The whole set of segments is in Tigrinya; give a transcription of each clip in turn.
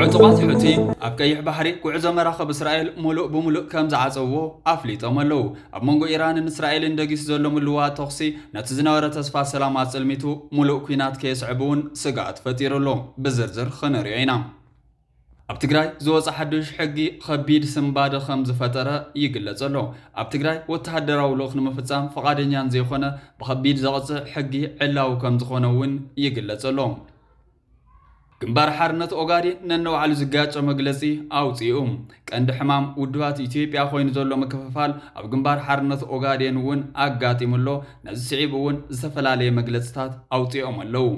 ዕጡቓት ሑቲ ኣብ ቀይሕ ባሕሪ ጉዕዞ መራኸብ እስራኤል ሙሉእ ብሙሉእ ከም ዝዓፀውዎ ኣፍሊጦም ኣለዉ። ኣብ መንጎ ኢራንን እስራኤልን ደጊሱ ዘሎ ምልውዋጥ ተኹሲ ነቲ ዝነበረ ተስፋ ሰላም ኣፅልሚቱ ሙሉእ ኲናት ከየስዕብ እውን ስግኣት ፈጢሩ ኣሎ። ብዝርዝር ክንሪኦ ኢና። ኣብ ትግራይ ዝወፀ ሓዱሽ ሕጊ ኸቢድ ስንባደ ኸም ዝፈጠረ ይግለፅ ኣሎ። ኣብ ትግራይ ወተሃደራዊ ልኡኽ ንምፍፃም ፍቓደኛን ዘይኾነ ብኸቢድ ዘቕፅዕ ሕጊ ዕላዊ ከም ዝኾነ እውን ይግለፅ ኣሎ። ግንባር ሓርነት ኦጋዴን ነንባዕሉ ዝጋጨ መግለፂ ኣውፂኡ። ቀንዲ ሕማም ውድባት ኢትዮጵያ ኮይኑ ዘሎ ምክፍፋል ኣብ ግንባር ሓርነት ኦጋዴን እውን ኣጋጢሙ ኣሎ። ነዚ ስዒቡ እውን ዝተፈላለየ መግለፅታት ኣውፂኦም ኣለው።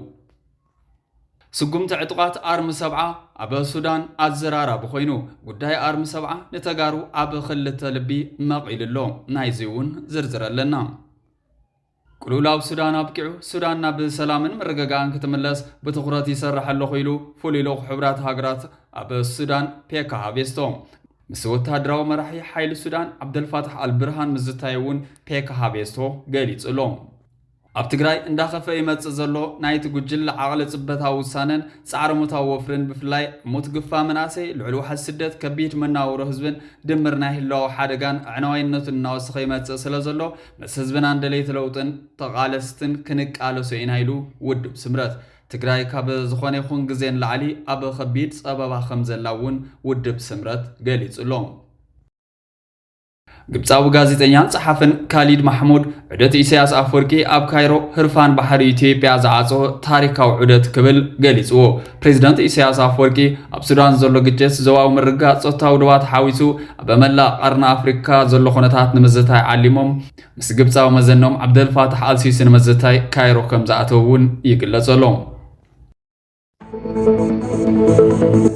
ስጉምቲ ዕጡቓት ኣርሚ ሰብዓ ኣብ ሱዳን ኣዘራራቢ ኮይኑ፣ ጉዳይ ኣርሚ ሰብዓ ንተጋሩ ኣብ ክልተ ልቢ መቒሉ ኣሎ። ናይዚ እውን ዝርዝር ኣለና። ቅልውላው ሱዳን ኣብቂዑ ሱዳን ናብ ሰላምን ምርግጋእን ክትምለስ ብትኹረት ይሰርሕ ኣለኹ ኢሉ ፍሉይ ልኡኽ ሕብራት ሃገራት ኣብ ሱዳን ፔካ ሃቬስቶ ምስ ወተሃደራዊ መራሒ ሓይሊ ሱዳን ዓብደልፋታሕ ኣልብርሃን ምዝታዩ እውን ፔካ ሃቬስቶ ገሊጹ ኣሎ። ኣብ ትግራይ እንዳኸፍኤ ይመፅእ ዘሎ ናይቲ ጉጅለ ዓቕሊ ፅበታዊ ውሳነን ፃዕረ ሞታዊ ወፍሪን ብፍላይ ሙት ግፋ መናእሰይ፣ ልዑል ዋሕዚ ስደት፣ ከቢድ መናውሮ ህዝብን ድምር ናይ ህላወ ሓደጋን ኣዕናዋይነቱን እናወሰኸ ይመፅእ ስለዘሎ ምስ ህዝብናን ደለይቲ ለውጥን ተቓለስትን ክንቃለሶ ኢና ኢሉ። ውድብ ስምረት ትግራይ ካብ ዝኾነ ይኹን ግዜ ንላዕሊ ኣብ ኸቢድ ፀበባ ከምዘላ እውን ውድብ ስምረት ገሊፁ ኣሎ። ግብፃዊ ጋዜጠኛን ጸሓፍን ካሊድ ማሕሙድ ዑደት ኢሳያስ ኣፍወርቂ ኣብ ካይሮ ህርፋን ባሕሪ ኢትዮጵያ ዝዓጾ ታሪካዊ ዑደት ክብል ገሊጽዎ። ፕሬዚደንት ኢሳያስ ኣፍወርቂ ኣብ ሱዳን ዘሎ ግጭት፣ ዞባዊ ምርግጋእ ጾታዊ ዶባት ሓዊሱ ኣብ መላእ ቀርኒ ኣፍሪካ ዘሎ ኩነታት ንምዝታይ ዓሊሞም ምስ ግብፃዊ መዘኖም ዓብደልፋታሕ ኣልሲሲ ንምዝታይ ካይሮ ከምዝኣተው እውን ይግለጸሎም።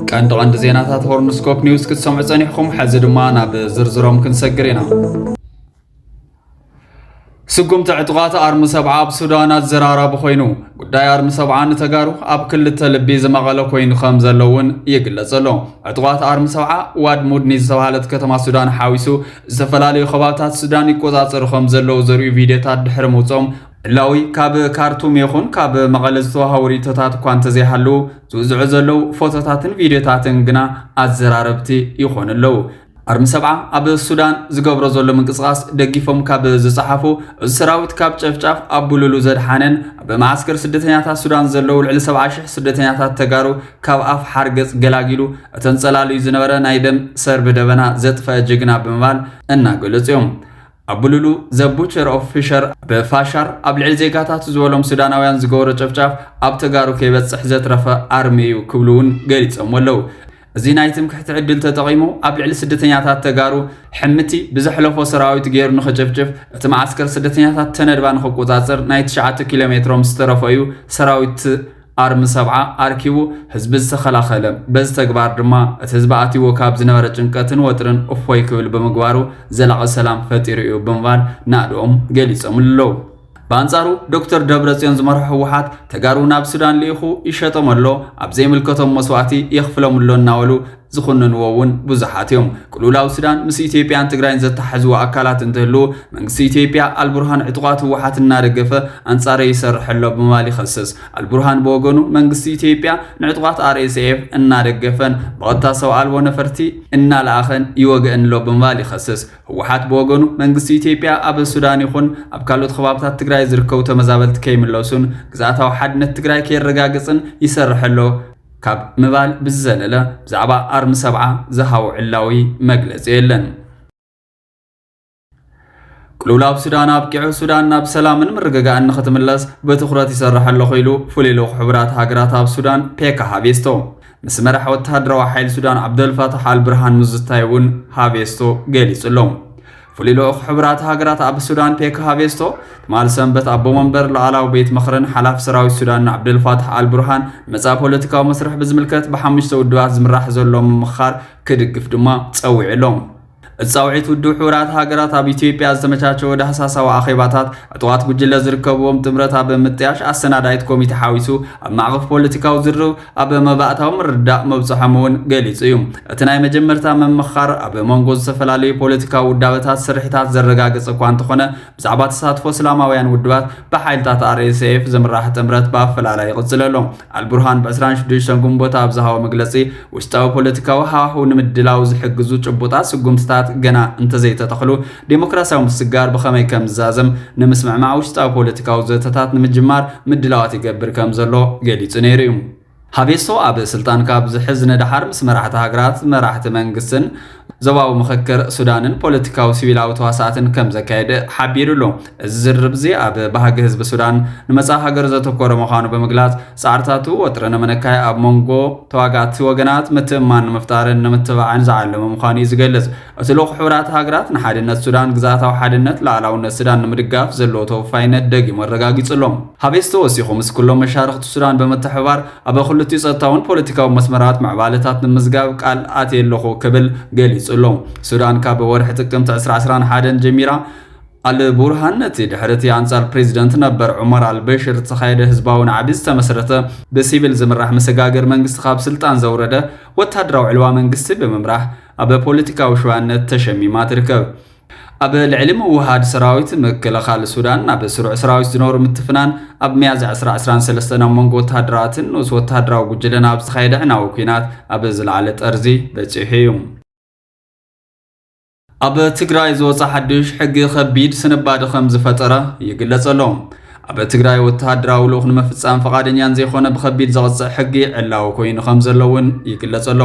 ቀንዲ ቀንዲ ዜናታት ሆርንስኮፕ ኒውስ ክትሰምዑ ጸኒሕኩም ሕዚ ድማ ናብ ዝርዝሮም ክንሰግር ኢና ስጉምቲ ዕጡቓት ኣርሚ ሰብዓ ኣብ ሱዳን ኣዘራራቢ ኮይኑ ጉዳይ ኣርሚ ሰብዓ ንተጋሩ ኣብ ክልተ ልቢ ዝመቐለ ኮይኑ ከም ዘሎ እውን ይግለጽ ኣሎ ዕጡቓት ኣርሚ ሰብዓ ዋድ ሙድኒ ዝተባሃለት ከተማ ሱዳን ሓዊሱ ዝተፈላለዩ ከባብታት ሱዳን ይቆፃፀሩ ከም ዘለዉ ዘርእዩ ቪድዮታት ድሕሪ ምውፅኦም ዕላዊ ካብ ካርቱም ይኹን ካብ መቐለ ዝተዋሃቡ ርእይቶታት እኳ እንተዘይሃለዉ ዝውዝዑ ዘለዉ ፎቶታትን ቪድዮታትን ግና ኣዘራረብቲ ይኾኑ ኣለዉ። ኣርሚ ሰብዓ ኣብ ሱዳን ዝገብሮ ዘሎ ምንቅስቓስ ደጊፎም ካብ ዝጸሓፉ፣ እዚ ሰራዊት ካብ ጨፍጫፍ ኣብ ቡሉሉ ዘድሓነን ኣብ መዓስከር ስደተኛታት ሱዳን ዘለዉ ልዕሊ ሰብዓ ሽሕ ስደተኛታት ተጋሩ ካብ ኣፍ ሓርገጽ ገላጊሉ እተንጸላልዩ ዝነበረ ናይ ደም ሰርቢ ደበና ዘጥፈኣ ጅግና ብምባል እናገለጹ እዮም። ኣብ ብሉሉ ዘ ቡቸር ኦፍ ፊሸር ብፋሻር ኣብ ልዕሊ ዜጋታት ዝበሎም ሱዳናውያን ዝገበሮ ጨፍጫፍ ኣብ ተጋሩ ከይበፅሕ ዘትረፈ ኣርሚ እዩ ክብሉ እውን ገሊፆሞ ኣለው። እዚ ናይ ትምክሕቲ ዕድል ተጠቒሙ ኣብ ልዕሊ ስደተኛታት ተጋሩ ሕምቲ ብዘሕለፎ ሰራዊት ገይሩ ንኽጭፍጭፍ እቲ መዓስከር ስደተኛታት ተነድባ ንኽቆፃፀር ናይ ትሽዓተ ኪሎ ሜትሮም ዝተረፎ እዩ ሰራዊት ኣርሚ ሰብዓ ኣርኪቡ ህዝቢ ዝተኸላኸለ፣ በዚ ተግባር ድማ እቲ ህዝቢ ኣትይዎ ካብ ዝነበረ ጭንቀትን ወጥርን እፎይ ክብል ብምግባሩ ዘላቒ ሰላም ፈጢሩ ኢዩ ብምባል ናእድኦም ገሊፆምሉ ኣለው። ብኣንፃሩ ዶክተር ደብረፅዮን ዝመርሖ ህወሓት ተጋሩ ናብ ሱዳን ልኢኹ ይሸጦም ኣሎ፣ ኣብ ዘይምልከቶም መስዋእቲ የኽፍሎም ኣሎ እናበሉ ዝኹንንዎ እውን ብዙሓት እዮም። ቅልውላው ሱዳን ምስ ኢትዮጵያን ትግራይን ዘተሓሕዝዎ ኣካላት እንትህልው መንግስቲ ኢትዮጵያ ኣልቡርሃን ዕጡቓት ህወሓት እናደገፈ ኣንጻረይ ይሰርሕ ኣሎ ብምባል ይኸስስ። ኣልቡርሃን ብወገኑ መንግስቲ ኢትዮጵያ ንዕጡቓት RSF እናደገፈን ብቐጥታ ሰብ ኣልቦ ነፈርቲ እናለኣኸን ይወግእን ኣሎ ብምባል ይኸስስ። ህወሓት ብወገኑ መንግስቲ ኢትዮጵያ ኣብ ሱዳን ይኹን ኣብ ካልኦት ከባብታት ትግራይ ዝርከቡ ተመዛበልቲ ከይምለሱን ግዝኣታዊ ሓድነት ትግራይ ከይረጋገጽን ይሰርሕ ኣሎ ካብ ምባል ብዝዘለለ ብዛዕባ ኣርሚ ሰብዓ ዝሃቦ ዕላዊ መግለፂ የለን። ቅልውላው ሱዳን ኣብቂዑ ሱዳን ናብ ሰላምን ምርግጋእን ንክትምለስ ብትኹረት ይሰርሕ ኣለኹ ኢሉ ፍሉይ ልኡኽ ሕቡራት ሃገራት ኣብ ሱዳን ፔካ ሃቬስቶ ምስ መራሕ ወተሃደራዊ ሓይሊ ሱዳን ዓብደልፋታሕ ኣልብርሃን ምዝታይ እውን ሃቬስቶ ገሊጹ ኣሎ። ፍሉይ ልኡኽ ሕቡራት ሃገራት ኣብ ሱዳን ፔካ ሃቬስቶ ትማል ሰንበት ኣቦ መንበር ላዕላዊ ቤት ምኽርን ሓላፊ ሰራዊት ሱዳንን ዓብደልፋታሕ ኣልቡርሃን መጻኢ ፖለቲካዊ መስርሕ ብዝምልከት ብሓሙሽተ ውድባት ዝምራሕ ዘሎ ምምኽኻር ክድግፍ ድማ ጸዊዑ ኣሎ እቲ ጻውዒት ውድብ ሕቡራት ሃገራት ኣብ ኢትዮጵያ ዝተመቻቸወ ዳህሳሳዊ ኣኼባታት ዕጡቓት ጉጅለ ዝርከብዎም ጥምረት ኣብ ምጥያሽ ኣሰናዳኢት ኮሚቴ ሓዊሱ ኣብ ማዕቐፍ ፖለቲካዊ ዝርርብ ኣብ መባእታዊ ምርዳእ ምብጽሖም እውን ገሊጹ እዩ። እቲ ናይ መጀመርታ ምምኽኻር ኣብ መንጎ ዝተፈላለዩ ፖለቲካዊ ውዳበታት ስርሒታት ዘረጋገጸ እኳ እንተኾነ ብዛዕባ ተሳትፎ እስላማውያን ውድባት ብሓይልታት RSF ዝምራሕ ጥምረት ብኣፈላላይ ይቕጽል ኣሎ። ኣልቡርሃን ብ ዕስራን ሽዱሽተን ግንቦት ኣብ ዝሃቦ መግለጺ ውሽጣዊ ፖለቲካዊ ሃዋህው ንምድላው ዝሕግዙ ጭቡጣት ስጉምትታት ገና እንተዘይተተኽሉ ዴሞክራሲያዊ ምስግጋር ብኸመይ ከም ዝዛዘም ንምስምዕማዕ ውሽጣዊ ፖለቲካዊ ዘተታት ንምጅማር ምድላዋት ይገብር ከም ዘሎ ገሊጹ ነይሩ እዩ። ሃቬስቶ ኣብ ስልጣን ካብ ዝሕዝ ንደሓር ምስ መራሕቲ ሃገራት፣ መራሕቲ መንግስትን ዞባዊ ምኽክር ሱዳንን ፖለቲካዊ ሲቪላዊ ተዋሳእትን ከም ዘካየደ ሓቢሩ ኣሎ። እዚ ዝርርብ እዚ ኣብ ባህጊ ህዝቢ ሱዳን ንመጻኢ ሃገሩ ዘተኮረ ምዃኑ ብምግላጽ፣ ጻዕርታቱ ወጥሪ ንምንካይ ኣብ መንጎ ተዋጋእቲ ወገናት ምትእምማን ንምፍጣርን ንምትብባዕን ዝዓለመ ምዃኑ እዩ ዝገልጽ። እቲ ልኡኽ ሕቡራት ሃገራት ንሓድነት ሱዳን ግዝኣታዊ ሓድነት ልኣላውነት ስዳን ንምድጋፍ ዘለዎ ተወፋይነት ደጊሙ ኣረጋጊጹ ኣሎ። ሃቤስ ተወሲኹ ምስ ኩሎም መሻርኽቲ ሱዳን ብምትሕብባር ኣብ ክልቲኡ ጸጥታውን ፖለቲካውን መስመራት ምዕባለታት ንምምዝጋብ ቃል ኣትየ ኣለኹ ክብል ገሊጹ ኣሎ። ሱዳን ካብ ወርሒ ጥቅምቲ ዕስራ ዕስራን ሓደን ጀሚራ ኣል ቡርሃን ነቲ ድሕሪ እቲ ኣንጻር ፕሬዚደንት ነበር ዑመር ኣልበሽር ዝተኻየደ ህዝባዊ ናዕቢ ዝተመስረተ ብሲቪል ዝምራሕ መሰጋገሪ መንግስቲ ካብ ስልጣን ዘውረደ ወተሃደራዊ ዕልዋ መንግስቲ ብምምራሕ ኣብ ፖለቲካዊ ሸዋነት ተሸሚማ ትርከብ። ኣብ ልዕሊ ምውህሃድ ሰራዊት ምክልኻል ሱዳን ናብ ስሩዕ ሰራዊት ዝነበሩ ምትፍናን፣ ኣብ ሚያዝያ ዕስራ ዕስራን ሰለስተን ኣብ መንጎ ወተሃደራትን ንኡስ ወተሃደራዊ ጉጅለን ኣብ ዝተኻየደ ኣዕናዊ ኲናት ኣብ ዝለዓለ ጠርዚ በጺሑ እዩ። ኣብ ትግራይ ዝወፀ ሓድሽ ሕጊ ከቢድ ስንባደ ከም ዝፈጠረ ይግለጸ ኣሎ። ኣብ ትግራይ ወተሃደራዊ ልኡኽ ንምፍጻም ፈቓደኛን ዘይኮነ ብከቢድ ዘቕጽዕ ሕጊ ዕላዊ ኮይኑ ከም ዘሎ እውን ይግለጸ ኣሎ።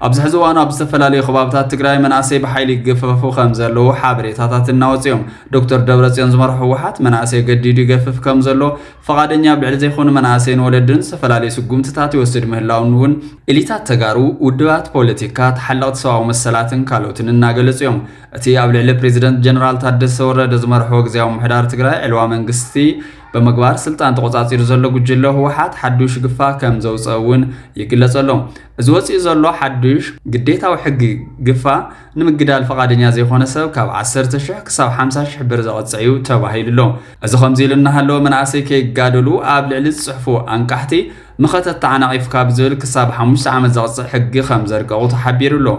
ኣብዚ ሕዚ እዋን ኣብ ዝተፈላለዩ ከባብታት ትግራይ መናእሰይ ብሓይሊ ይገፈፉ ከምዘለዉ ሓበሬታታት እናወፁ እዮም። ዶክተር ደብረፅዮን ዝመርሖ ህወሓት መናእሰይ ገዲዱ ይገፍፍ ከምዘሎ፣ ፈቓደኛ ብዕሊ ዘይኮኑ መናእሰይን ወለድን ዝተፈላለዩ ስጉምትታት ይወስድ ምህላዉን እውን ኤሊታት ተጋሩ፣ ውድባት ፖለቲካ፣ ተሓለቕቲ ሰብኣዊ መሰላትን ካልኦትን እናገለፁ እዮም። እቲ ኣብ ልዕሊ ፕሬዚደንት ጀነራል ታደሰ ወረደ ዝመርሖ ግዝያዊ ምምሕዳር ትግራይ ዕልዋ መንግስቲ ብምግባር ስልጣን ተቖፃፂሩ ዘሎ ጉጅለ ህወሓት ሓዱሽ ግፋ ከምዘውፀ እውን ይግለፀሎም። እዚ ወጺኡ ዘሎ ሓዱሽ ግዴታዊ ሕጊ ግፋ ንምግዳል ፍቓደኛ ዘይኮነ ሰብ ካብ ዓሰርተ ሽሕ ክሳብ ሓምሳ ሽሕ ብር ዘቕጽዕ እዩ ተባሂሉ ኣሎ። እዚ ከምዚ ኢሉ እናሃለወ መናእሰይ ከይጋደሉ ኣብ ልዕሊ ዝጽሕፉ ኣንቃሕቲ መኸተ ተዓናቒፍካ ብዝብል ክሳብ ሓሙሽተ ዓመት ዘቕጽዕ ሕጊ ከምዘርቀቑ ተሓቢሩ ኣሎ።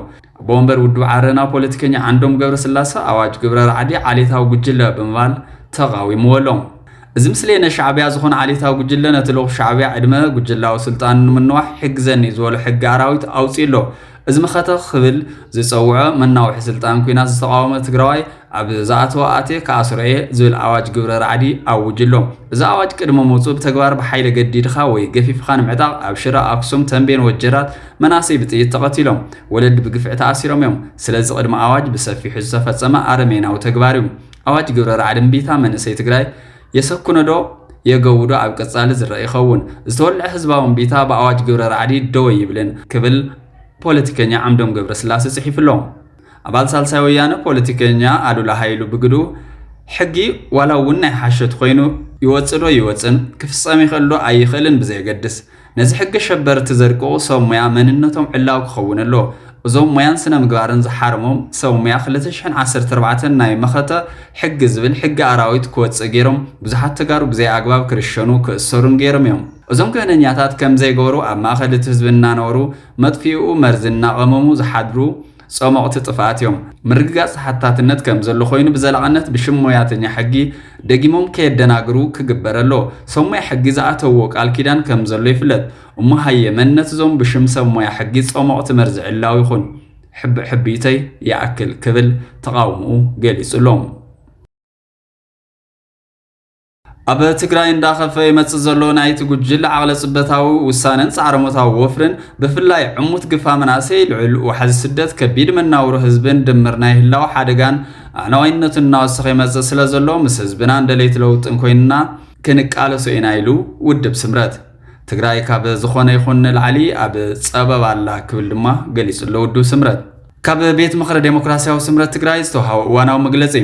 ኣቦ ወንበር ውድብ ዓረና ፖለቲከኛ ዓንዶም ገብረስላሰ ኣዋጅ ግብረ ራዕዲ ዓሌታዊ ጉጅለ ብምባል ተቓዊምዎ ኣሎ። እዚ ምስሌነ ሻዕቢያ ዝኾነ ዓሌታዊ ጉጅለ ነቲ ልኡኽ ሻዕቢያ ዕድመ ጉጅላዊ ስልጣኑ ንምንዋሕ ይሕግዘኒ ዝበሎ ሕጊ ኣራዊት ኣውፂኡ ኣሎ። እዚ መኸተ ክብል ዝፀውዖ መናውሒ ስልጣን ኲናት ዝተቓወመ ትግራዋይ ኣብ ዝኣተዎ ኣትየ ክኣስሮ እየ ዝብል ኣዋጅ ግብረ ራዕዲ ኣውጁ ኣሎ። እዚ ኣዋጅ ቅድሚ ምውጽኡ ብተግባር ብሓይሊ ኣገዲድኻ ወይ ገፊፍኻ ንምዕጣቕ ኣብ ሽረ፣ ኣክሱም፣ ተምቤን፣ ወጀራት መናእሰይ ብጥይት ተቐቲሎም። ወለዲ ብግፍዒ ተኣሲሮም እዮም። ስለዚ ቅድሚ ኣዋጅ ብሰፊሑ ዝተፈጸመ ኣረሜናዊ ተግባር እዩ። ኣዋጅ ግብረ ራዕዲ እምቢታ መንእሰይ ትግራይ የሰክኖዶ የገውዶ ኣብ ቀጻሊ ዝረኣ ይኸውን። ዝተወልዐ ህዝባዊ እምቢታ ብኣዋጅ ግብረ ራዕዲ ደው ኣይብልን ክብል ፖለቲከኛ ዓምዶም ገብረስላሴ ጽሒፉ ኣሎ። ኣባል ሳልሳይ ወያነ ፖለቲከኛ ኣሉላ ሃይሉ ብግድኡ፣ ሕጊ ዋላ እውን ናይ ሓሾት ኮይኑ ይወጽእ ዶ ይወጽእን፣ ክፍጸም ይኽእል ዶ ኣይኽእልን ብዘየገድስ፣ ነዚ ሕጊ ኣሸበርቲ ዘድቅቑ ሰብ ሞያ መንነቶም ዕላዊ ክኸውን ኣለዎ። እዞም ሞያን ስነምግባርን ዝሓረሞም ሰብ ሞያ ክልተ ሽሕን ዓሰርተ ኣርባዕተን ናይ መኸተ ሕጊ ዝብል ሕጊ ኣራዊት ክወጽእ ገይሮም ብዙሓት ተጋሩ ብዘይ ኣግባብ ክርሸኑ ክእሰሩን ገይሮም እዮም። እዞም ክህነኛታት ከምዘይገበሩ ኣብ ማእኸል እቲ ህዝቢ እናነበሩ መጥፊኢኡ መርዚ እናቐመሙ ዝሓድሩ ጸሞቕቲ ጥፍኣት እዮም። ምርግጋጽ ተሓታትነት ከም ዘሎ ኮይኑ ብዘላቕነት ብሽም ሞያተኛ ሕጊ ደጊሞም ከየደናግሩ ክግበር ኣለዎ። ሰብ ሞያ ሕጊ ዝኣተውዎ ቃል ኪዳን ከም ዘሎ ይፍለጥ። እሞ ሃየ መንነት እዞም ብሽም ሰብ ሞያ ሕጊ ጸሞቕቲ መርዚ ዕላዊ ይኹን። ሕቢሕቢተይ ይኣክል ክብል ተቓውምኡ ገሊጹ ኣሎ። ኣብ ትግራይ እንዳኸፈ ይመፅእ ዘሎ ናይቲ ጉጅል ዓቕለ ፅበታዊ ውሳነን ፃዕረሞታዊ ወፍርን ብፍላይ ዕሙት ግፋ መናእሰይ ልዑል ዋሕዚ ስደት ከቢድ መናውሮ ህዝብን ድምር ናይ ህላው ሓደጋን ኣዕናዋይነቱን እናወሰኸ ይመፅእ ስለ ዘሎ ምስ ህዝብናን ደለይቲ ለውጥን ኮይንና ክንቃለሶ ኢና ኢሉ ውድብ ስምረት ትግራይ ካብ ዝኾነ ይኹን ንላዕሊ ኣብ ፀበብ ኣላ ክብል ድማ ገሊጹ ኣሎ ውድብ ስምረት ካብ ቤት ምኽሪ ዴሞክራሲያዊ ስምረት ትግራይ ዝተውሃበ እዋናዊ መግለፂ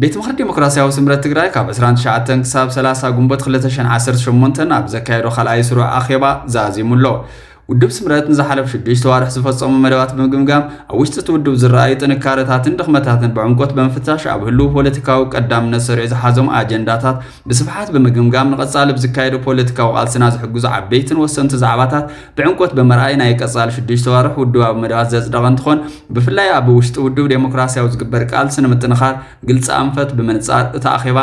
ቤት ምኽሪ ዴሞክራሲያዊ ስምረት ትግራይ ካብ ዕስራን ትሽዓተን ክሳብ ሰላሳ ግንቦት ክልተ ሽሕን ዓሰርተ ሸሞንተን ኣብ ዘካየዶ ካልኣይ ስሩዕ ኣኼባ ዛዚሙ ኣሎ። ውድብ ስምረት ንዝሓለፉ ሽዱሽተ ኣዋርሕ ዝፈጸሞ መደባት ብምግምጋም ኣብ ውሽጢ እቲ ውድብ ዝረኣዩ ጥንካረታትን ድኽመታትን ብዕምቆት ብምፍታሽ ኣብ ህልው ፖለቲካዊ ቀዳምነት ሰሪዑ ዝሓዞም ኣጀንዳታት ብስፍሓት ብምግምጋም ንቐጻሊ ብዝካየዱ ፖለቲካዊ ቃልስና ዝሕግዙ ዓበይትን ወሰንቲ ዛዕባታት ብዕምቆት ብምርኣይ ናይ ቀፃሊ ሽዱሽተ ኣዋርሕ ውድባዊ መደባት ዘፅደቐ እንትኾን ብፍላይ ኣብ ውሽጢ ውድብ ዴሞክራሲያዊ ዝግበር ቃልሲ ንምጥንኻር ግልፂ ኣንፈት ብምንፃር እቲ ኣኼባ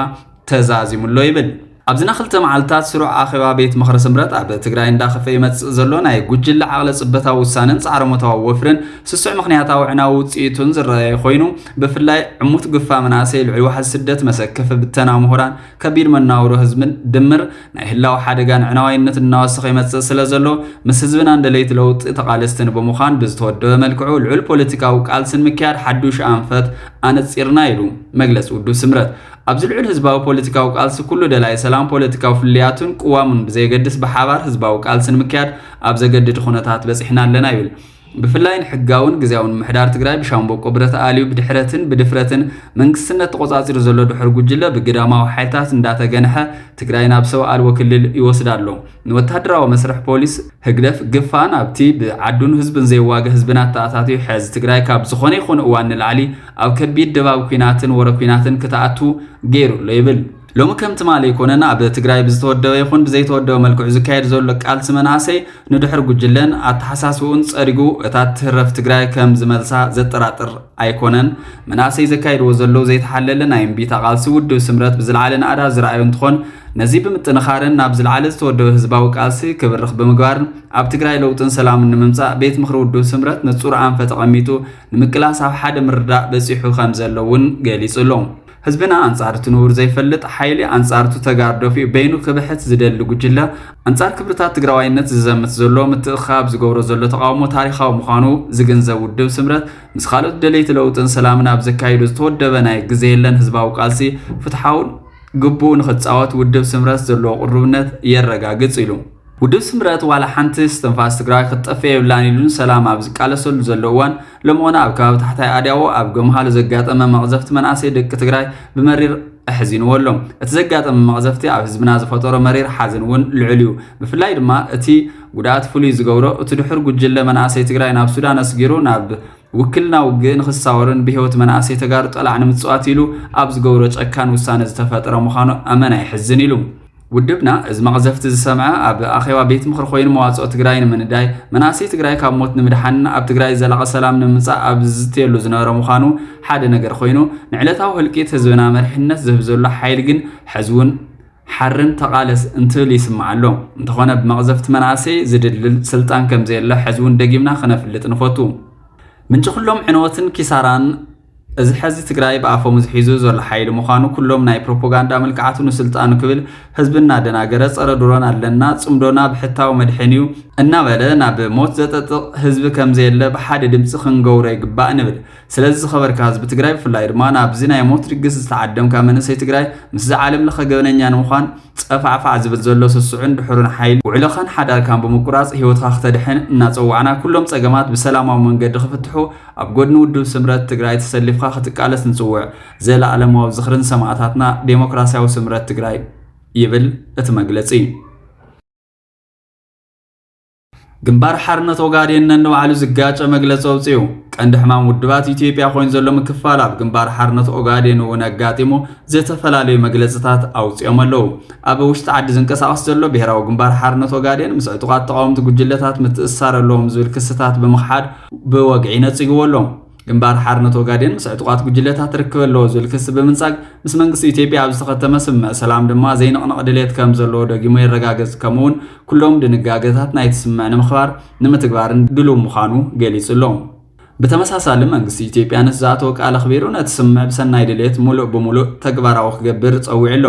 ተዛዚሙሎ ይብል። ኣብዚ ና ክልተ መዓልትታት ስሩዕ ኣኼባ ቤት ምኽሪ ስምረት ኣብ ትግራይ እንዳኸፈ ይመፅእ ዘሎ ናይ ጉጅለ ዓቕለ ፅበታዊ ውሳነን ፃዕረሞታዊ ወፍርን ስሱዕ ምኽንያታዊ ዕናዊ ውፅኢቱን ዝረኣየ ኮይኑ ብፍላይ ዕሙት ግፋ መናእሰይ ልዑል ዋሕዚ ስደት መሰከፊ ብተና ምሁራን ከቢድ መናውሮ ህዝብን ድምር ናይ ህላው ሓደጋን ዕናዋይነትን እናወሰኸ ይመጽእ ስለ ዘሎ ምስ ህዝብናን ደለይቲ ለውጢ ተቓለስትን ብምዃን ብዝተወደበ መልክዑ ልዑል ፖለቲካዊ ቃልሲ ንምክያድ ሓዱሽ ኣንፈት ኣነጺርና ኢሉ መግለጺ ውድብ ስምረት። ኣብዚ ልዑል ህዝባዊ ፖለቲካዊ ቃልሲ ኩሉ ደላይ ሰላም ፖለቲካዊ ፍልልያቱን ቅዋሙን ብዘየገድስ ብሓባር ህዝባዊ ቃልሲ ንምክያድ ኣብ ዘገድድ ኹነታት በጺሕና ኣለና ይብል። ብፍላይ ንሕጋውን ግዝያውን ምምሕዳር ትግራይ ብሻምበቆ ብረት ኣልዩ ብድሕረትን ብድፍረትን መንግስትነት ተቖጻጺሩ ዘሎ ድሑር ጉጅለ ብግዳማዊ ሓይልታት እንዳተገንሐ ትግራይ ናብ ሰብ ኣልቦ ክልል ይወስዳ ኣሎ። ንወተሃደራዊ መስርሕ ፖሊስ ህግደፍ ግፋ ናብቲ ብዓዱን ህዝቡን ዘይዋገ ህዝብና ኣተኣታትዩ ሕዝ። ትግራይ ካብ ዝኾነ ይኹን እዋን ንላዕሊ ኣብ ከቢድ ድባብ ኲናትን ወረ ኲናትን ክትኣቱ ገይሩ ኣሎ ይብል። ሎሚ ከም ትማሊ ኣይኮነን ኣብ ትግራይ ብዝተወደበ ይኹን ብዘይተወደበ መልክዑ ዝካየድ ዘሎ ቃልሲ መናእሰይ ንድሕር ጉጅለን ኣተሓሳስብኡን ጸሪጉ እታ ትህረፍ ትግራይ ከም ዝመልሳ ዘጠራጥር ኣይኮነን። መናእሰይ ዘካይድዎ ዘለዉ ዘይተሓለለ ናይ እምቢታ ቃልሲ ውድብ ስምረት ብዝለዓለ ናእዳ ዝረኣዮ እንትኾን ነዚ ብምጥንኻርን ናብ ዝለዓለ ዝተወደበ ህዝባዊ ቃልሲ ክብርኽ ብምግባርን ኣብ ትግራይ ለውጥን ሰላምን ንምምፃእ ቤት ምኽሪ ውድብ ስምረት ንፁር ኣንፈት ኣቐሚጡ ንምቅላስ ኣብ ሓደ ምርዳእ በፂሑ ከም ዘሎ እውን ገሊፁ ኣሎ። ህዝብና ኣንጻር እቲ ንቡር ዘይፈልጥ ሓይሊ ኣንጻር እቱ ተጋር ደፊኡ በይኑ ክብሕት ዝደሊ ጉጅለ ኣንጻር ክብርታት ትግራዋይነት ዝዘምት ዘሎ ምትእኽኻብ ዝገብሮ ዘሎ ተቓውሞ ታሪኻዊ ምዃኑ ዝግንዘብ ውድብ ስምረት ምስ ካልኦት ደለይቲ ለውጥን ሰላምን ኣብ ዘካይዱ ዝተወደበ ናይ ግዜ የለን ህዝባዊ ቃልሲ ፍትሓውን ግቡኡ ንክጻወት ውድብ ስምረት ዘለዎ ቅሩብነት የረጋግጽ ኢሉ። ውድብ ስምረት ዋላ ሓንቲ እስትንፋስ ትግራዋይ ክትጠፍእ የብላን ኢሉ ንሰላም ኣብ ዝቃለሰሉ ዘሎ እዋን ሎም'ውን ኣብ ከባቢ ታሕታይ ኣድያዎ ኣብ ገምሃሉ ዘጋጠመ መቕዘፍቲ መናእሰይ ደቂ ትግራይ ብመሪር ኣሕዚንዎ ኣሎ። እቲ ዘጋጠመ መቕዘፍቲ ኣብ ህዝብና ዝፈጠሮ መሪር ሓዘን እውን ልዑል እዩ። ብፍላይ ድማ እቲ ጉድኣት ፍሉይ ዝገብሮ እቲ ድሑር ጉጅለ መናእሰይ ትግራይ ናብ ሱዳን ኣስጊሩ ናብ ውክልና ውግእ ንክሳወርን ብህይወት መናእሰይ ተጋሩ ጠላዕ ንምፅዋት ኢሉ ኣብ ዝገብሮ ጨካን ውሳነ ዝተፈጠረ ምዃኑ ኣመና የሕዝን ኢሉ። ውድብና እዚ መቕዘፍቲ ዝሰምዐ ኣብ ኣኼባ ቤት ምኽሪ ኮይኑ መዋፅኦ ትግራይ ንምንዳይ መናእሰይ ትግራይ ካብ ሞት ንምድሓንን ኣብ ትግራይ ዘላቒ ሰላም ንምምፃእ ኣብ ዝዝትየሉ ዝነበረ ምዃኑ ሓደ ነገር ኮይኑ ንዕለታዊ ህልቂት ህዝብና መሪሕነት ዝህብ ዘሎ ሓይሊ ግን ሕዚ እውን ሓርን ተቓለስ እንትብል ይስማዕ ኣሎ እንተኾነ ብመቕዘፍቲ መናእሰይ ዝድልድል ስልጣን ከምዘየለ ሕዚ እውን ደጊምና ክነፍልጥ ንፈቱ ምንጪ ኩሎም ዕንወትን ኪሳራን እዚ ሐዚ ትግራይ ብኣፈሙዝ ሒዙ ዘሎ ሓይሊ ምዃኑ ኩሎም ናይ ፕሮፖጋንዳ ምልክዓቱ ንስልጣኑ ክብል ህዝቢ እናደናገረ ፀረ ድሮን ኣለና ፅምዶና ብሕታዊ መድሕን እዩ እናበለ ናብ ሞት ዘጠጥቕ ህዝቢ ከምዘየለ ብሓደ ድምፂ ክንገውሮ ይግባእ ንብል። ስለዚ ዝኸበርካ ህዝቢ ትግራይ ብፍላይ ድማ ናብዚ ናይ ሞት ድግስ ዝተዓደምካ መንእሰይ ትግራይ ምስዚ ዓለም ለኸ ገበነኛ ንምዃን ጸፋዕፋዕ ዝብል ዘሎ ስሱዕን ድሑርን ሓይሊ፣ ውዕሎኻን ሓዳርካን ብምቁራጽ ህይወትኻ ክተድሕን እናጸዋዕና፣ ኩሎም ጸገማት ብሰላማዊ መንገዲ ክፍትሑ ኣብ ጎድኒ ውድብ ስምረት ትግራይ ተሰሊፍኻ ክትቃለስ ንጽውዕ። ዘለኣለማዊ ዝኽሪ ንሰማእታትና ዴሞክራሲያዊ ስምረት ትግራይ ይብል እቲ መግለጺ። ግንባር ሓርነት ኦጋዴን ነንባዕሉ ዝጋጨ መግለፂ ኣውፂኡ። ቀንዲ ሕማም ውድባት ኢትዮጵያ ኮይኑ ዘሎ ምክፋል ኣብ ግንባር ሓርነት ኦጋዴን እውን ኣጋጢሙ ዝተፈላለዩ መግለፅታት ኣውፂኦም ኣለዉ። ኣብ ውሽጢ ዓዲ ዝንቀሳቐስ ዘሎ ብሄራዊ ግንባር ሓርነት ኦጋዴን ምስ ዕጡቓት ተቓወምቲ ጉጅለታት ምትእስሳር ኣለዎም ዝብል ክስታት ብምኽሓድ ብወግዒ ነፂግዎ ኣሎ። ግንባር ሓርነት ኦጋዴን ምስ ዕጡቓት ጉጅለታት ርክብ ኣለዎ ዝብል ክሲ ብምንጻግ ምስ መንግስቲ ኢትዮጵያ ኣብ ዝተኸተመ ስምምዕ ሰላም ድማ ዘይንቕነቕ ድሌት ከም ዘለዎ ደጊሙ የረጋግጽ ከምኡ'ውን ኩሎም ድንጋገታት ናይቲ ስምምዕ ንምኽባር ንምትግባርን ድሉው ምዃኑ ገሊጹ ኣሎ። ብተመሳሳሊ መንግስቲ ኢትዮጵያ ነቲ ዝኣተዎ ቃል ኣኽቢሩ ነቲ ስምምዕ ብሰናይ ድሌት ምሉእ ብምሉእ ተግባራዊ ክገብር ጸዊዑ ኣሎ።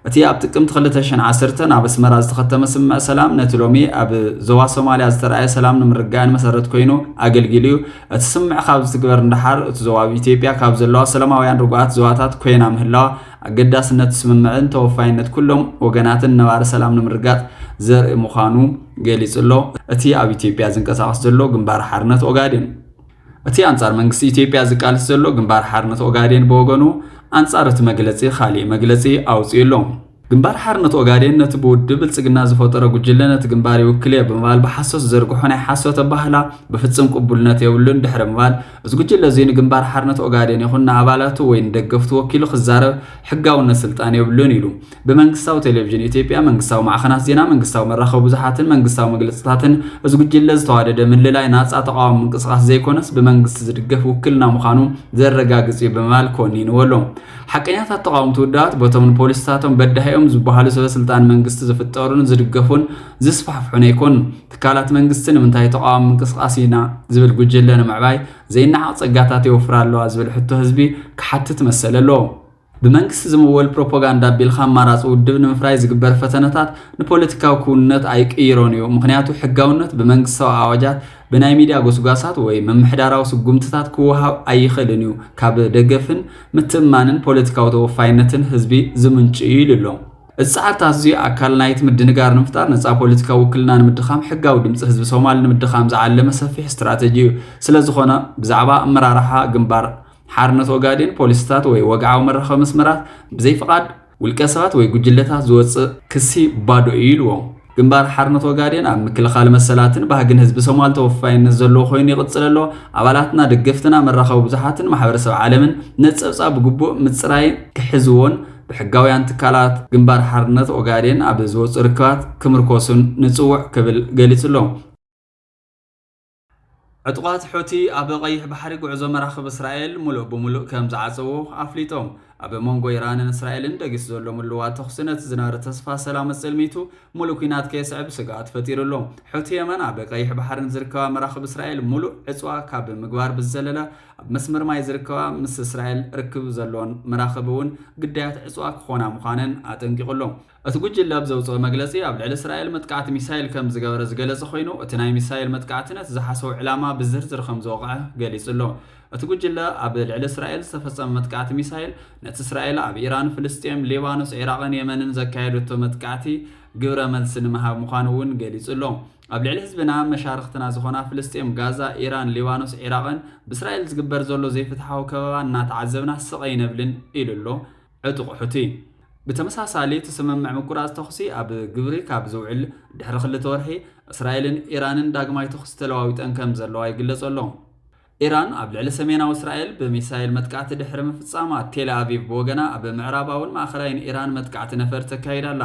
እቲ ኣብ ጥቅምቲ ክልተ ሽሕን ዓሰርተን ኣብ ኣስመራ ዝተኸተመ ስምምዕ ሰላም፣ ነቲ ሎሚ ኣብ ዞባ ሶማልያ ዝተራእየ ሰላምን ምርግጋእን መሰረት ኮይኑ ኣገልጊሉ እዩ። እቲ ስምምዕ ካብ ዝትግበር ንደሓር፣ እቲ ዞባ ኣብ ኢትዮጵያ ካብ ዘለዋ ሰላማውያን ርጉኣት ዞባታት ኮይና ምህላዋ፣ ኣገዳስነት እቲ ስምምዕን ተወፋይነት ኩሎም ወገናትን ነባሪ ሰላም ንምርግጋጽ ዘርኢ ምዃኑ ገሊጹ ኣሎ እቲ ኣብ ኢትዮጵያ ዝንቀሳቐስ ዘሎ ግንባር ሓርነት ኦጋዴን። እቲ ኣንጻር መንግስቲ ኢትዮጵያ ዝቃልስ ዘሎ ግንባር ሓርነት ኦጋዴን ብወገኑ ኣንጻር እቲ መግለጺ ካሊእ መግለጺ ኣውጺኡ ኣሎ። ግንባር ሓርነት ኦጋዴን ነቲ ብውድብ ብልጽግና ዝፈጠሮ ጉጅለ ነቲ ግንባር ይውክል'የ ብምባል ብሓሶት ዝዘርግሖ ናይ ሓሶት ኣባህላ ብፍጽም ቅቡልነት የብሉን ድሕሪ ምባል እዚ ጉጅለ እዚ ንግንባር ሓርነት ኦጋዴን ይኹን ንኣባላቱ ወይ ንደገፍቱ ወኪሉ ክዛረብ ሕጋውነት ስልጣን የብሉን ኢሉ። ብመንግስታዊ ቴሌቪዥን ኢትዮጵያ፣ መንግስታዊ ማዕኸናት ዜና፣ መንግስታዊ መራኸቢ ብዙሓትን መንግስታዊ መግለፅታትን እዚ ጉጅለ ዝተዋደደ ምልላይ ናፃ ተቓዋሚ ምንቅስቓስ ዘይኮነስ ብመንግስቲ ዝድገፍ ውክልና ምዃኑ ዘረጋግፅ እዩ ብምባል ኮኒንዎ ኣሎ። ሓቀኛታት ተቓወምቲ ውድባት በቶም ንፖሊሲታቶም በዳሂ'ዮም ዝበሃሉ ሰበስልጣን መንግስቲ ዝፍጠሩን ዝድገፉን ዝስፋሕፍሑን ኣይኮኑን። ትካላት መንግስቲ ንምንታይ ተቓዋሚ ምንቅስቓስ ኢና ዝብል ጉጅለ ንምዕባይ ዘይነዓቕ ፀጋታት የውፍራ ኣለዋ ዝብል ሕቶ ህዝቢ ክሓትት መሰል ኣለዎ። ብመንግስቲ ዝምወል ፕሮፖጋንዳ ኣቢልካ ኣማራፂ ውድብ ንምፍራይ ዝግበር ፈተነታት ንፖለቲካዊ ክውንነት ኣይቅይሮን እዩ። ምኽንያቱ ሕጋውነት ብመንግስታዊ ኣዋጃት፣ ብናይ ሚድያ ጎስጓሳት ወይ ምምሕዳራዊ ስጉምትታት ክወሃብ ኣይኽእልን እዩ፣ ካብ ደገፍን ምትእምማንን ፖለቲካዊ ተወፋይነትን ህዝቢ ዝምንጩ እዩ ኢሉ ኣሎ። እዚ ፃዕርታት እዙይ ኣካል ናይቲ ምድንጋር ንምፍጣር፣ ነፃ ፖለቲካዊ ውክልና ንምድኻም፣ ሕጋዊ ድምፂ ህዝቢ ሶማል ንምድኻም ዝዓለመ ሰፊሕ ስትራተጂ እዩ። ስለዝኾነ ብዛዕባ ኣመራርሓ ግንባር። ሓርነት ኦጋዴን ፖሊሲታት ወይ ወግዓዊ መራኸቢ መስመራት ብዘይ ፍቓድ ውልቀ ሰባት ወይ ጉጅለታት ዝወጽእ ክሲ ባዶ እዩ ኢልዎም። ግንባር ሓርነት ኦጋዴን ኣብ ምክልኻል መሰላትን ባህግን ህዝቢ ሶማል ተወፋይነት ዘለዎ ኮይኑ ይቕጽል ኣሎ። ኣባላትና፣ ደገፍትና፣ መራኸቢ ብዙሓትን ማሕበረሰብ ዓለምን ነቲ ጸብጻብ ብግቡእ ምጽራይን ክሕዝዎን ብሕጋውያን ትካላት ግንባር ሓርነት ኦጋዴን ኣብ ዝወጽኡ ርክባት ክምርኮሱን ንጽውዕ ክብል ገሊጹ'ሎ። ዕጡቓት ሑቲ ኣብ ቀይሕ ባሕሪ ጉዕዞ መራኽብ እስራኤል ሙሉእ ብሙሉእ ከም ዝዓጸዉ ኣፍሊጦም። ኣብ መንጎ ኢራንን እስራኤልን ደጊሱ ዘሎ ምልዋጥ ተኹሲ ነቲ ዝነበረ ተስፋ ሰላም ኣጸልሚቱ ሙሉእ ኲናት ከየስዕብ ስግኣት ፈጢሩ ኣሎ። ሑቲ የመን ኣብ ቀይሕ ባሕሪ ንዝርከባ መራኽብ እስራኤል ሙሉእ ዕጽዋ ካብ ምግባር ብዝዘለለ ኣብ መስመር ማይ ዝርከባ ምስ እስራኤል ርክብ ዘለወን መራኽብ እውን ግዳያት ዕጽዋ ክኾና ምዃነን ኣጠንቂቑ ኣሎ። እቲ ጉጅለ ኣብ ዘውጽኦ መግለጺ፣ ኣብ ልዕሊ እስራኤል መጥቃዕቲ ሚሳይል ከም ዝገበረ ዝገለጸ ኮይኑ፣ እቲ ናይ ሚሳይል መጥቃዕቲ ነቲ ዝሓሰቦ ዕላማ ብዝርዝር ከም ዝወቕዐ ገሊጹ ኣሎ። እቲ ጉጅለ፣ ኣብ ልዕሊ እስራኤል ዝተፈጸመ መጥቃዕቲ ሚሳይል፣ ነቲ እስራኤል ኣብ ኢራን፣ ፍልስጤም፣ ሊባኖስ፣ ዒራቕን የመንን ዘካየደቶ መጥቃዕቲ ግብረ መልሲ ንምሃብ ምዃኑ'ውን ገሊጹ ኣሎ። ኣብ ልዕሊ ህዝብና፣ መሻርኽትና ዝኾና ፍልስጤም፣ ጋዛ፣ ኢራን፣ ሊባኖስ፣ ዒራቕን ብእስራኤል ዝግበር ዘሎ ዘይፍትሓዊ ከበባ እናተዓዘብና ስቕ ኣይነብልን ኢሉ ኣሎ። ዕጡቕ ሑቲ ብተመሳሳሊ እቲ ስምምዕ ምቁራጽ ተኹሲ ኣብ ግብሪ ካብ ዝውዕል ድሕሪ ክልተ ወርሒ፣ እስራኤልን ኢራንን ዳግማይ ተኹሲ ተለዋዊጠን ከም ዘለዋ ይግለጾ ኣሎ። ኢራን ኣብ ልዕሊ ሰሜናዊ እስራኤል ብሚሳይል መጥቃዕቲ ድሕሪ ምፍጻማ፣ ቴልኣቪቭ ብወገና ኣብ ምዕራባውን ማእከላይን ኢራን መጥቃዕቲ ነፈርቲ ተካይድ ኣላ።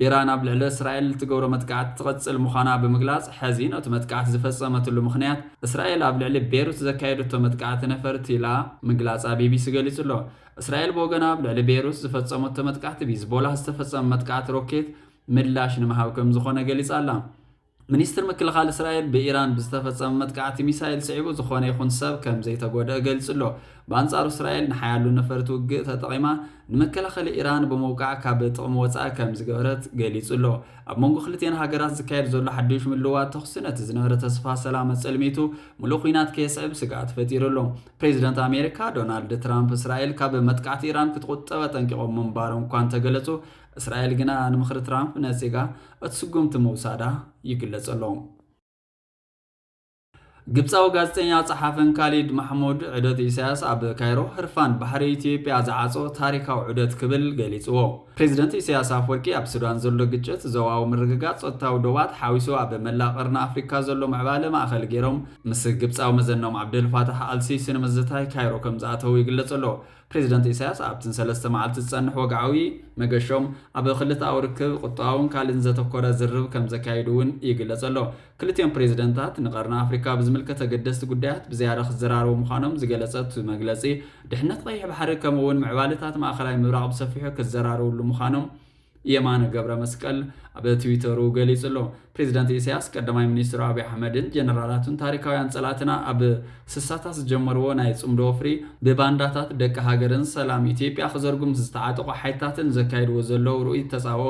ኢራን ኣብ ልዕሊ እስራኤል እትገብሮ መጥቃዕቲ ትቕጽል ምዃና ብምግላጽ፣ ሐዚ ነቲ መጥቃዕቲ ዝፈጸመትሉ ምኽንያት እስራኤል ኣብ ልዕሊ ቤሩት ዘካየደቶ መጥቃዕቲ ነፈርቲ ኢላ ምግላጻ ቢቢሲ ገሊጹ ኣሎ። እስራኤል ብወገና ኣብ ልዕሊ ቤይሩት ዝፈጸመቶ መጥቃዕቲ ብሂዝቦላህ ዝተፈጸመ መጥቃዕቲ ሮኬት ምላሽ ንምሃብ ከምዝኾነ ገሊጻ ኣላ። ሚኒስትሪ ምክልኻል እስራኤል ብኢራን ብዝተፈጸመ መጥቃዕቲ ሚሳይል ስዒቡ ዝኾነ ይኹን ሰብ ከምዘይተጎድኣ ገሊጹ'ሎ። ብኣንጻሩ እስራኤል ንሓያሎ ነፈርቲ ውግእ ተጠቒማ ንመከላኸሊ ኢራን ብምውቃዕ ካብ ጥቕሚ ወጻኢ ከምዝገበረት ገሊጹ'ሎ። ኣብ መንጎ ክልቲኤን ሃገራት ዝካየድ ዘሎ ሓዱሽ ምልውዋጥ ተኹሲ ነቲ ዝነበረ ተስፋ ሰላም ኣጸልሚቱ ምሉእ ኹናት ከየስዕብ ስግኣት ፈጢሩ'ሎ። ፕሬዝደንት ኣሜሪካ ዶናልድ ትራምፕ እስራኤል ካብ መጥቃዕቲ ኢራን ክትቑጠብ ኣጠንቂቖም ምንባሮም እኳ እንተገለጹ፣ እስራኤል ግና ንምኽሪ ትራምፕ ነጺጋ እቲ ስጉምቲ ምውሳዳ ይግለጽ ኣሎ። ግብጻዊ ጋዜጠኛ ጸሓፍን ካሊድ ማሕሙድ ዑደት ኢሳያስ ኣብ ካይሮ ህርፋን ባሕሪ ኢትዮጵያ ዝዓጾ ታሪካዊ ዑደት ክብል ገሊጽዎ። ፕሬዚደንት ኢሳያስ ኣፍወርቂ ኣብ ሱዳን ዘሎ ግጭት፣ ዞባዊ ምርግጋፅ ፀጥታዊ ዶባት ሓዊሱ ኣብ መላእ ቐርኒ ኣፍሪካ ዘሎ ምዕባለ ማእኸል ገይሮም ምስ ግብፃዊ መዘነኦም ዓብደል ፋታሕ ኣል ሲሲ ንምዝታይ ካይሮ ከምዝኣተው ይግለፅ ኣሎ። ፕሬዚደንት ኢሳያስ ኣብቲ ንሰለስተ መዓልቲ ዝፀንሕ ወግዓዊ መገሾም ኣብ ክልተኣዊ ርክብ፣ ቑጠባዊን ካሊእን ዘተኮረ ዝርርብ ከምዘካይዱ እውን ይግለፅ ኣሎ። ክልቲኦም ፕሬዝደንታት ንቀርኒ ኣፍሪካ ብዝምልከት ኣገደስቲ ጉዳያት ብዝያዳ ክዘራረቡ ምዃኖም ዝገለፀ እቲ መግለፂ፣ ድሕነት ቀይሕ ባሕሪ ከምኡ እውን ምዕባለታት ማእኸላይ ምብራቕ ብሰፊሑ ክዘራረብሉ ምዃኖም የማነ ገብረመስቀል ኣብ ትዊተሩ ገሊፁ ኣሎ። ፕሬዝደንት ኢሳያስ ቀዳማይ ሚኒስትሩ ኣብይ ኣሕመድን ጀነራላቱን ታሪካውያን ፀላእትና ኣብ ስሳታት ዝጀመርዎ ናይ ፅምዶ ወፍሪ ብባንዳታት ደቂ ሃገርን ሰላም ኢትዮጵያ ክዘርጉ ምስ ዝተዓጠቑ ሓይልታትን ዘካይድዎ ዘለዉ ርኡይ ተፃብኦ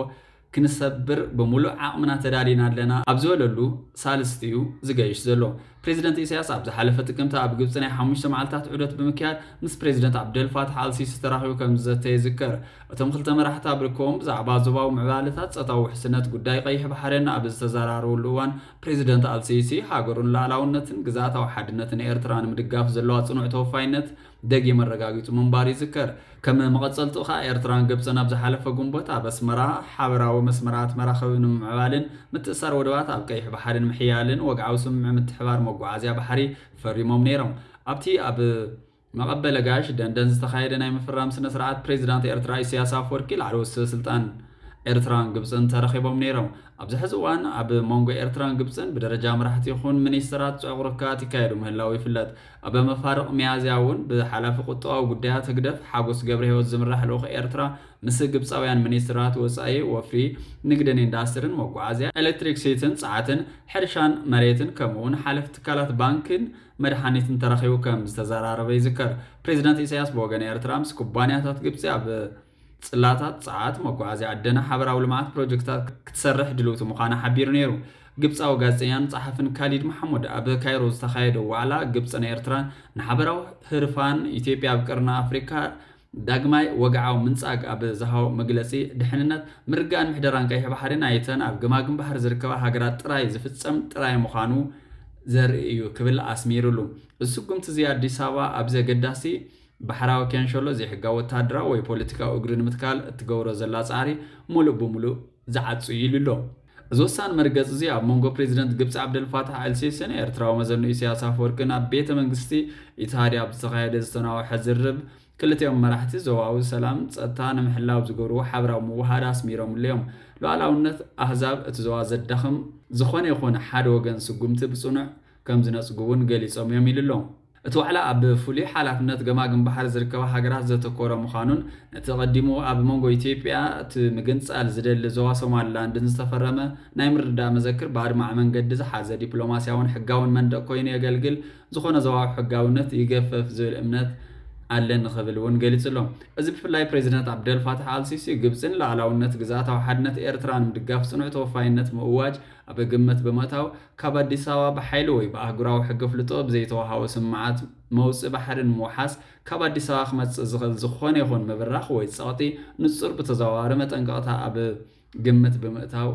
ክንሰብር ብምሉእ ዓቕምና ተዳሊና ኣለና ኣብ ዝበለሉ ሳልስቲ'ዩ ዝገይሽ ዘሎ። ፕረዚደንት ኢሳይያስ ኣብ ዝሓለፈ ጥቅምቲ ኣብ ግብጺ ናይ ሓሙሽተ መዓልታት ዑደት ብምክያድ ምስ ፕረዚደንት ዓብደልፋታሕ ኣልሲሲ ተራኺቡ ከምዝዘተ ይዝከር። እቶም ክልተ መራሕቲ ኣብ ርክቦም ብዛዕባ ዞባዊ ምዕባለታት፣ ጸጥታዊ ውሕስነት፣ ጉዳይ ቀይሕ ባሕሪን ኣብ ዝተዘራረብሉ እዋን፣ ፕረዚደንት ኣልሲሲ ሃገሩን ልኣላውነትን ግዝኣታዊ ሓድነትን ኤርትራ ንምድጋፍ ዘለዋ ጽኑዕ ተወፋይነት ደጊም ኣረጋጊጹ ምንባሩ ይዝከር። ከም መቐጸልትኡ ከኣ ኤርትራን ግብጽን ኣብ ዝሓለፈ ግንቦት ኣብ ኣስመራ ሓበራዊ መስመራት መራኽብ ንምምዕባልን ምትእስሳር ወደባት ኣብ ቀይሕ ባሕሪ ንምሕያልን ወግዓዊ ስምምዕ ምትሕብባር መጓዓዝያ ባሕሪ ፈሪሞም ነይሮም። ኣብቲ ኣብ መቐበሊ ጋሽ ደንደን ዝተኻየደ ናይ ምፍራም ስነ-ስርዓት ፕሬዚዳንት ኤርትራ ኢሰያስ ኣፍወርቂ ላዕለዎት ሰበስልጣን ኤርትራን ግብጽን ተረኺቦም ነይሮም። ኣብዚ ሕዚ እዋን ኣብ መንጎ ኤርትራን ግብጽን ብደረጃ መራሕቲ ይኹን ሚኒስተራት ጽዑቕ ርክባት ይካየዱ ምህላዉ ይፍለጥ። ኣብ መፋርቕ ሚያዝያ እውን ብሓላፊ ቁጠባዊ ጉዳያት ህግደፍ ሓጎስ ገብረሂወት ዝምራሕ ልኡኽ ኤርትራ ምስ ግብጻውያን ሚኒስትራት ወጻኢ፣ ወፍሪ፣ ንግድን ኢንዳስትርን፣ መጓዓዝያ፣ ኤሌክትሪክሲቲን ጸዓትን፣ ሕርሻን መሬትን ከምኡ'ውን ሓለፍቲ ትካላት ባንኪን መድሓኒትን ተራኺቡ ከም ዝተዘራረበ ይዝከር። ፕሬዝደንት ኢሳይያስ ብወገን ኤርትራ ምስ ኩባንያታት ግብጺ ኣብ። ጽላታት ጸዓት፣ መጓዓዝያ ኣደና ሓበራዊ ልምዓት ፕሮጀክትታት ክትሰርሕ ድልውቲ ምዃና ሓቢሩ ነይሩ። ግብጻዊ ጋዜጠኛን ጸሓፍን ካሊድ መሓሙድ ኣብ ካይሮ ዝተኻየደ ዋዕላ ግብጽን ኤርትራን ንሓበራዊ ህርፋን ኢትዮጵያ ኣብ ቀርኒ ኣፍሪካ ዳግማይ ወግዓዊ ምንጻግ ኣብ ዝሃቦ መግለጺ ድሕንነት ምርግጋእን ምሕደራን ቀይሕ ባሕሪ ናይተን ኣብ ገማግም ባሕሪ ዝርከባ ሃገራት ጥራይ ዝፍጸም ጥራይ ምዃኑ ዘርኢ እዩ ክብል ኣስሚርሉ። እዚ ስጉምቲ እዚ ኣዲስ ኣበባ ኣብዚ ኣገዳሲ ባሕራዊ ኪያንሸሎ ዘይሕጋዊ ወተሃደራዊ ወይ ፖለቲካዊ እግሪ ንምትካል እትገብሮ ዘላ ጻዕሪ ምሉእ ብምሉእ ዝዓጹ እዩ ኢሉ ኣሎ። እዚ ወሳኒ መርገጺ እዚ ኣብ መንጎ ፕሬዚደንት ግብጺ ዓብደልፋታሕ ኣልሲሲን ኤርትራዊ መዘንኡ ኢሳያስ ኣፈወርቅን ኣብ ቤተ መንግስቲ ኢትሃድ ኣብ ዝተኻየደ ዝተናወሐ ዝርርብ ክልቲኦም መራሕቲ ዞባዊ ሰላምን ጸጥታ ንምሕላው ዝገብርዎ ሓበራዊ ምውህሃድ ኣስሚሮምሉ እዮም። ሉዓላውነት ኣህዛብ እቲ ዞባ ዘዳኽም ዝኾነ ይኹን ሓደ ወገን ስጉምቲ ብጽኑዕ ከምዝነጽጉ'ውን ገሊጾም እዮም ኢሉ ኣሎ። እቲ ዋዕላ ኣብ ፍሉይ ሓላፍነት ገማግም ባሕሪ ዝርከባ ሃገራት ዘተኮረ ምዃኑን ነቲ ቀዲሙ ኣብ መንጎ ኢትዮጵያ እቲ ምግንፃል ዝደሊ ዞባ ሶማሊላንድን ዝተፈረመ ናይ ምርድዳእ መዘክር ብኣድማዒ መንገዲ ዝሓዘ ዲፕሎማሲያውን ሕጋውን መንደቅ ኮይኑ የገልግል ዝኾነ ዞባዊ ሕጋዊነት ይገፈፍ ዝብል እምነት ኣለኒ ክብል እውን ገሊፁ'ሎ። እዚ ብፍላይ ፕሬዚደንት ዓብደልፋታሕ ኣልሲሲ ግብፂ ንላእላውነት ግዝኣታዊ ሓድነት ኤርትራ ንምድጋፍ ፅኑዕ ተወፋይነት ምእዋጅ ኣብ ግምት ብምእታው፣ ካብ ኣዲስ ኣበባ ብሓይሊ ወይ ብኣህጉራዊ ሕጊ ኣፍልጦ ብዘይተወሃቦ ስም መዓት መውጽኢ ባሕሪ ንምውሓስ ካብ ኣዲስ ኣበባ ክመጽእ ዝኽእል ዝኾነ ይኹን ምብራኽ ወይ ጸቕጢ ንጹር ብተዘዋዋሪ መጠንቀቕታ ኣብ ግምት ብምእታው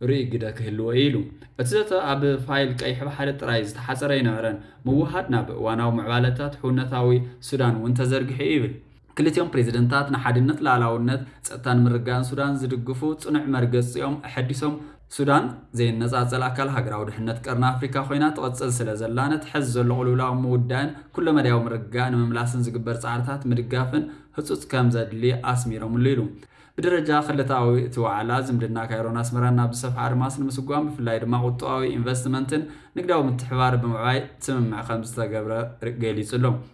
ርኡይ ግደ ክህልዎ እዩ ኢሉ። እቲ ዘተ ኣብ ፋይል ቀይሕ ባሕሪ ጥራይ ዝተሓጸረ ኣይነበረን፣ ምውህሃድ ናብ እዋናዊ ምዕባለታት ሕውነታዊ ሱዳን እውን ተዘርጊሑ እዩ ይብል። ክልቲኦም ፕሬዚደንታት ንሓድነት፣ ልኣላውነት፣ ፀጥታን ምርግጋእን ሱዳን ዝድግፉ ፅኑዕ መርገፂኦም ኣሐዲሶም። ሱዳን ዘይነፃፀል ኣካል ሃገራዊ ድሕነት ቀርኒ ኣፍሪካ ኮይና ትቕፅል ስለዘላ ነቲ ሐዚ ዘሎ ቅልውላው ምውዳእን ኩለመዳያዊ ምርግጋእ ንምምላስን ዝግበር ፃዕርታት ምድጋፍን ህፁፅ ከምዘድሊ ኣስሚሮምሉ ኢሉ። ብደረጃ ክልተኣዊ እቲ ዋዕላ ዝምድና ካይሮን ኣስመራን ናብ ዝሰፍሐ ኣድማስ ንምስጓም ብፍላይ ድማ ቁጠባዊ፣ ኢንቨስትመንትን ንግዳዊ ምትሕብባር ብምዕባይ ስምምዕ ከምዝተገብረ ገሊፁ ኣሎ።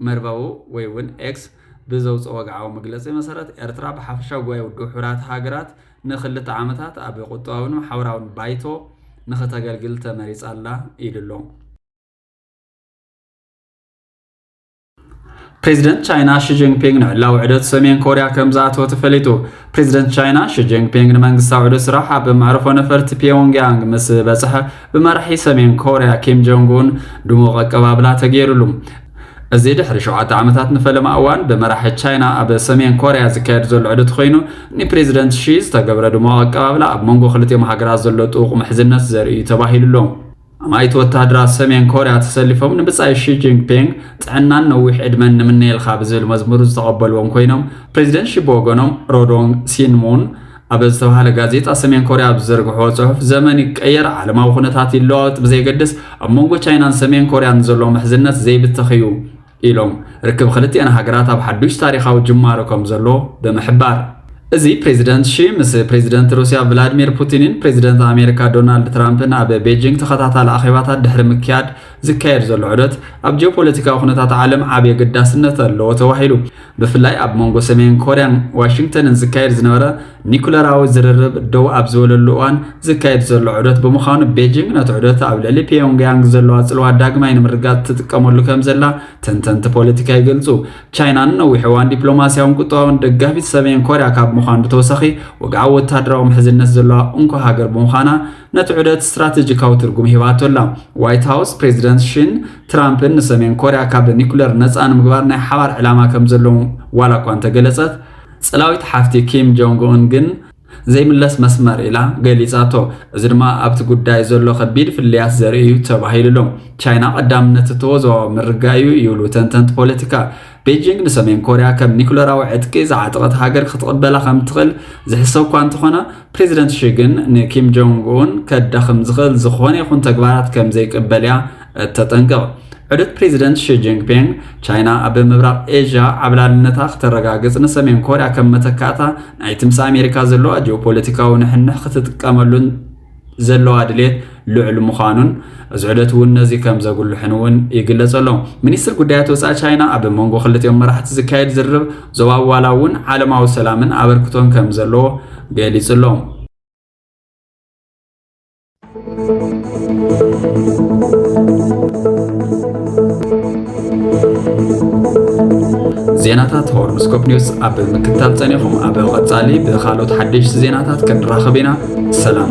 መርበቡ ወይ እውን ኤክስ ብዘውጽኦ ወግዓዊ መግለጺ መሰረት፣ ኤርትራ ብሓፈሻ ጉባኤ ውድብ ሕቡራት ሃገራት ንክልተ ዓመታት ኣብ ቁጠባዊን ማሕበራዊን ባይቶ ንክተገልግል ተመሪጻ ኣላ ኢሉ ኣሎ። ፕሬዚደንት ቻይና ሺጂንፒንግ ንዕላዊ ዕደት ሰሜን ኮርያ ከም ዝኣተወ ተፈሊጡ ፕሬዚደንት ቻይና ሺጂንፒንግ ንመንግስታዊ ዕደት ስራሕ ኣብ መዕርፎ ነፈርቲ ፒዮንግያንግ ምስ በፅሐ ብመራሒ ሰሜን ኮርያ ኪም ጆንግ ኡን ድሙቕ ኣቀባብላ ተገይሩሉ። እዚ ድሕሪ ሸውዓተ ዓመታት ንፈለማ እዋን ብመራሒ ቻይና ኣብ ሰሜን ኮርያ ዝካየድ ዘሎ ዕድት ኮይኑ ንፕሬዚደንት ሺ ዝተገብረ ድሞ ኣቀባብላ ኣብ መንጎ ክልቲኦም ሃገራት ዘሎ ጥውቕ ምሕዝነት ዘርእዩ ተባሂሉ ኣሎ። ኣማኢት ወተሃደራት ሰሜን ኮርያ ተሰሊፎም ንብጻይ ሺ ጂንፒንግ ጥዕናን ነዊሕ ዕድመን ንምነየልካ ብዝብል መዝሙር ዝተቐበልዎም ኮይኖም ፕሬዚደንት ሺ ብወገኖም ሮዶንግ ሲንሙን ኣብ ዝተባህለ ጋዜጣ ሰሜን ኮርያ ኣብ ዝዘርግሕዎ ጽሑፍ ዘመን ይቀየር፣ ዓለማዊ ኩነታት ይለዋወጥ ብዘይገድስ ኣብ መንጎ ቻይናን ሰሜን ኮርያን ዘሎ ምሕዝነት ዘይብተኽ እዩ ኢሎም ርክብ ክልቲኤን ሃገራት ኣብ ሓዱሽ ታሪኻዊ ጅማሮ ከም ዘሎ ብምሕባር እዚ ፕሬዚደንት ሺ ምስ ፕሬዚደንት ሩስያ ቭላድሚር ፑቲንን ፕሬዚደንት ኣሜሪካ ዶናልድ ትራምፕን ኣብ ቤጂንግ ተኸታታሊ ኣኼባታት ድሕሪ ምክያድ ዝካየድ ዘሎ ዑደት ኣብ ጂኦፖለቲካዊ ኩነታት ዓለም ዓብዪ ኣገዳስነት ኣለዎ ተባሂሉ ብፍላይ ኣብ መንጎ ሰሜን ኮርያን ዋሽንግተንን ዝካየድ ዝነበረ ኒኩለራዊ ዝርርብ ደው ኣብ ዝበለሉ እዋን ዝካየድ ዘሎ ዑደት ብምዃኑ ቤጂንግ ነቲ ዑደት ኣብ ልዕሊ ፒዮንግያንግ ዘለዋ ጽልዋ ዳግማይ ንምርጋጽ ትጥቀመሉ ከም ዘላ ተንተንቲ ፖለቲካ ይገልጹ። ቻይና ንነዊሕ እዋን ዲፕሎማስያውን ቁጠባውን ደጋፊት ሰሜን ኮርያ ካብ ምዃን ብተወሳኺ ወግዓዊ ወተሃደራዊ ምሕዝነት ዘለዋ እንኮ ሃገር ብምዃና ነቲ ዑደት ስትራቴጂካዊ ትርጉም ሂባቶ ኣላ። ዋይት ሃውስ፣ ፕሬዚደንት ሺን ትራምፕን ንሰሜን ኮርያ ካብ ኒኩለር ነፃ ንምግባር ናይ ሓባር ዕላማ ከምዘለዎም ዋላ እኳ እንተገለፀት፣ ፅላዊት ሓፍቲ ኪም ጆንግ ኡን ግን ዘይምለስ መስመር ኢላ ገሊፃቶ። እዚ ድማ ኣብቲ ጉዳይ ዘሎ ከቢድ ፍልልያት ዘርኢ እዩ ተባሂሉ'ሎ። ቻይና ቀዳምነት እተወ ዞባዊ ምርግጋእ እዩ ይብሉ ተንተንቲ ፖለቲካ። ቤጂንግ ንሰሜን ኮርያ ከም ኒኩለራዊ ዕጥቂ ዝዓጠቐት ሃገር ክትቕበላ ከም እትኽእል ዝሕሰብ እኳ እንተኾነ፣ ፕሬዚደንት ሺ ግን ንኪም ጆንግ ኡን ከዳኽም ዝኽእል ዝኾነ ይኹን ተግባራት ከም ዘይቅበል እያ እተጠንቅቕ። ዕዱት ፕሬዚደንት ሺ ጂንፒንግ፣ ቻይና ኣብ ምብራቕ ኤዥያ ዓብላልነታ ክተረጋግጽ ንሰሜን ኮርያ ከም መተካእታ ናይቲ ምስ ኣሜሪካ ዘለዋ ጂኦፖለቲካዊ ንሕንሕ ክትጥቀመሉን ዘለዋ ድሌት ልዑል ምዃኑን እዚ ዑደት እውን ነዚ ከም ዘጉልሕን እውን ይግለጸ ኣሎ ሚኒስትር ጉዳያት ወፃኢ ቻይና ኣብ መንጎ ክልቲኦም መራሕቲ ዝካየድ ዝርርብ ዞባዊ ዋላ እውን ዓለማዊ ሰላምን ኣበርክቶን ከም ዘለዎ ገሊጹ ኣሎ ዜናታት ሆርንስኮፕ ኒውስ ኣብ ምክታል ጸኒኹም ኣብ ቐጻሊ ብኻልኦት ሓደሽቲ ዜናታት ክንራኸብ ኢና ሰላም